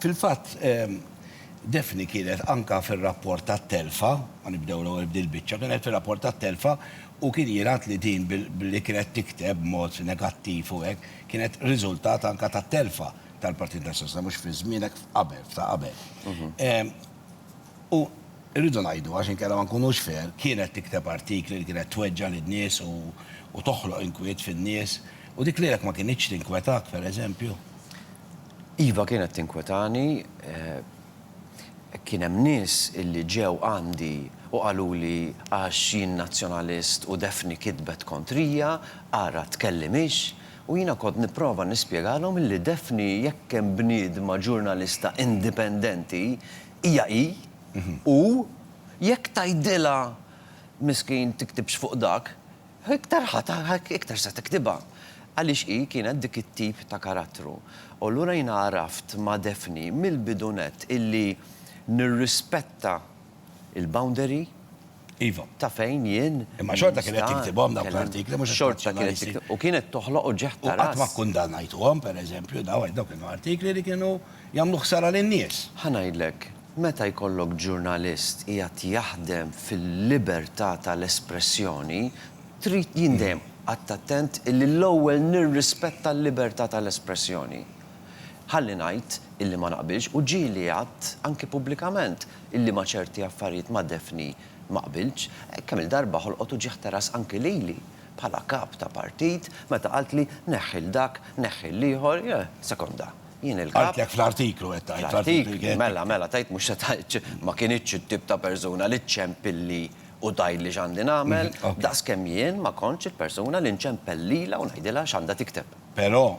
Fil-fatt, Daphne kienet anke fir-rapport tat-telfa, ma nibdew l-ewwel b'din il-biċċa, kienet fir-rapport tat-telfa u kien jingħad li din billi kienet tikteb b'mod negattiv u hekk, kienet riżultat anke tat-telfa tal-Partit Nazzjonalista, mhux fi żmienek, f'qabel, f'ta' qabel. U rridu ngħidu, għax inkella ma nkunux fair, kienet tikteb artikli li kienet tweġġa' lin-nies u toħloq inkwiet fin-nies, u dik lilek ma kinitx tinkwetak, pereżempju? Iva kienet tinkwetani. Kien hemm nies illi ġew għandi u qaluli għax jien Nazzjonalist u Daphne kitbet kontrija, ara tkellimhiex, u jiena kont nipprova nispjegalhom illi Daphne jekk hemm bniedma ġurnalista indipendenti hija hi u jekk tgħidilha miskin tiktibx fuq dak, Iktar ħa tagħha iktar se tiktibha, għaliex hi kienet dik it-tip ta' karattru. U allura jiena għaraft ma' Daphne mill-bidu nett illi nirrispetta l-boundary ta' fejn jien nista', Imma xorta kienet tiktibhom dawk l-artikli mhux estrazzjonalisti. U kienet toħloq uġigħ ta' ras. U qatt ma kkundannajtuhom, pereżempju, daw għax daw kienu artikli li kienu jagħmlu ħsara lin-nies. Ħa ngħidlek, Meta jkollok ġurnalist qiegħed jaħdem fil-libertà tal-espressjoni, trid, jien dejjem qgħadt attent illi l-ewwel nirrispetta l-libertà tal-espressjoni. Ħalli ngħid illi ma naqbilx, u ġieli għadt anki pubblikament illi ma' ċerti affarijiet ma' Daphne ma qbiltx. Kemm-il darba ħolqot uġigħ teras anki lili, bħala kap ta' partit, meta qaltli neħħi 'l dak, neħħi 'l ieħor, jeh, sekonda. Jien il-kap. Għidtlek fl-artiklu qed tgħid. Fl-artiklu kien. Mela, mela, tgħid mhux se tgħidx ma kinitx it-tip ta' persuna li ċċempilli u tgħidli x'għandi nagħmel, daqs kemm jien ma kontx il-persuna li nċempel lilha u ngħidilha x'għandha tikteb. Però,